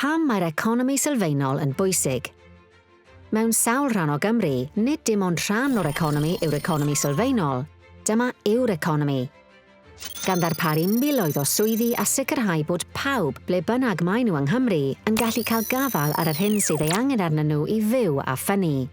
Pam mae'r economi sylfaenol yn bwysig? Mewn sawl rhan o Gymru, nid dim ond rhan o'r economi yw'r economi sylfaenol, dyma yw'r economi. Gan ddarparu miloedd o swyddi a sicrhau bod pawb, ble bynnag maen nhw yng Nghymru, yn gallu cael gafael ar yr hyn sydd ei angen arnyn nhw i fyw a ffynnu.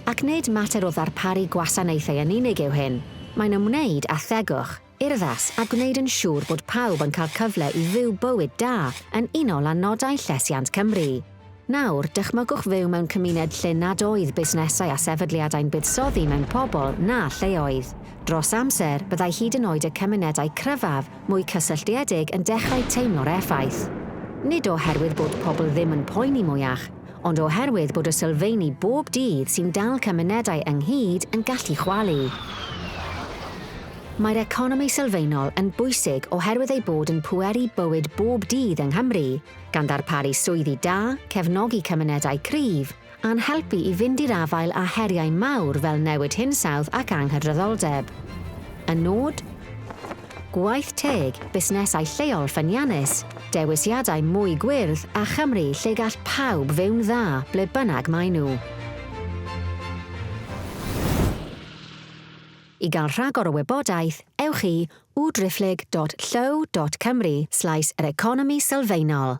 Ac nid mater o ddarparu gwasanaethau yn unig yw hyn, mae'n ymwneud â thegwch, urddas a gwneud yn siŵr bod pawb yn cael cyfle i fyw bywyd da yn unol â nodau Llesiant Cymru. Nawr, dychmygwch fyw mewn cymuned lle nad oedd busnesau a sefydliadau'n buddsoddi mewn pobl na lleoedd. Dros amser, byddai hyd yn oed y cymunedau cryfaf mwy cysylltiedig yn dechrau teimlo'r effaith. Nid oherwydd bod pobl ddim yn poeni mwyach, ond oherwydd bod y sylfeini bob dydd sy'n dal cymunedau ynghyd yn gallu chwalu. Mae'r economi sylfaenol yn bwysig oherwydd ei bod yn pweru bywyd bob dydd yng Nghymru, gan ddarparu swyddi da, cefnogi cymunedau cryf, a'n helpu i fynd i'r afael â heriau mawr fel newid hinsawdd ac anghydraddoldeb. Y nod? Gwaith teg, busnesau lleol ffyniannus, dewisiadau mwy gwyrdd a Chymru lle gall pawb fyw'n dda ble bynnag maen nhw. I gael rhagor o wybodaeth, ewch i www.driphlyg.llyw.cymru slaes yr economi sylfaenol.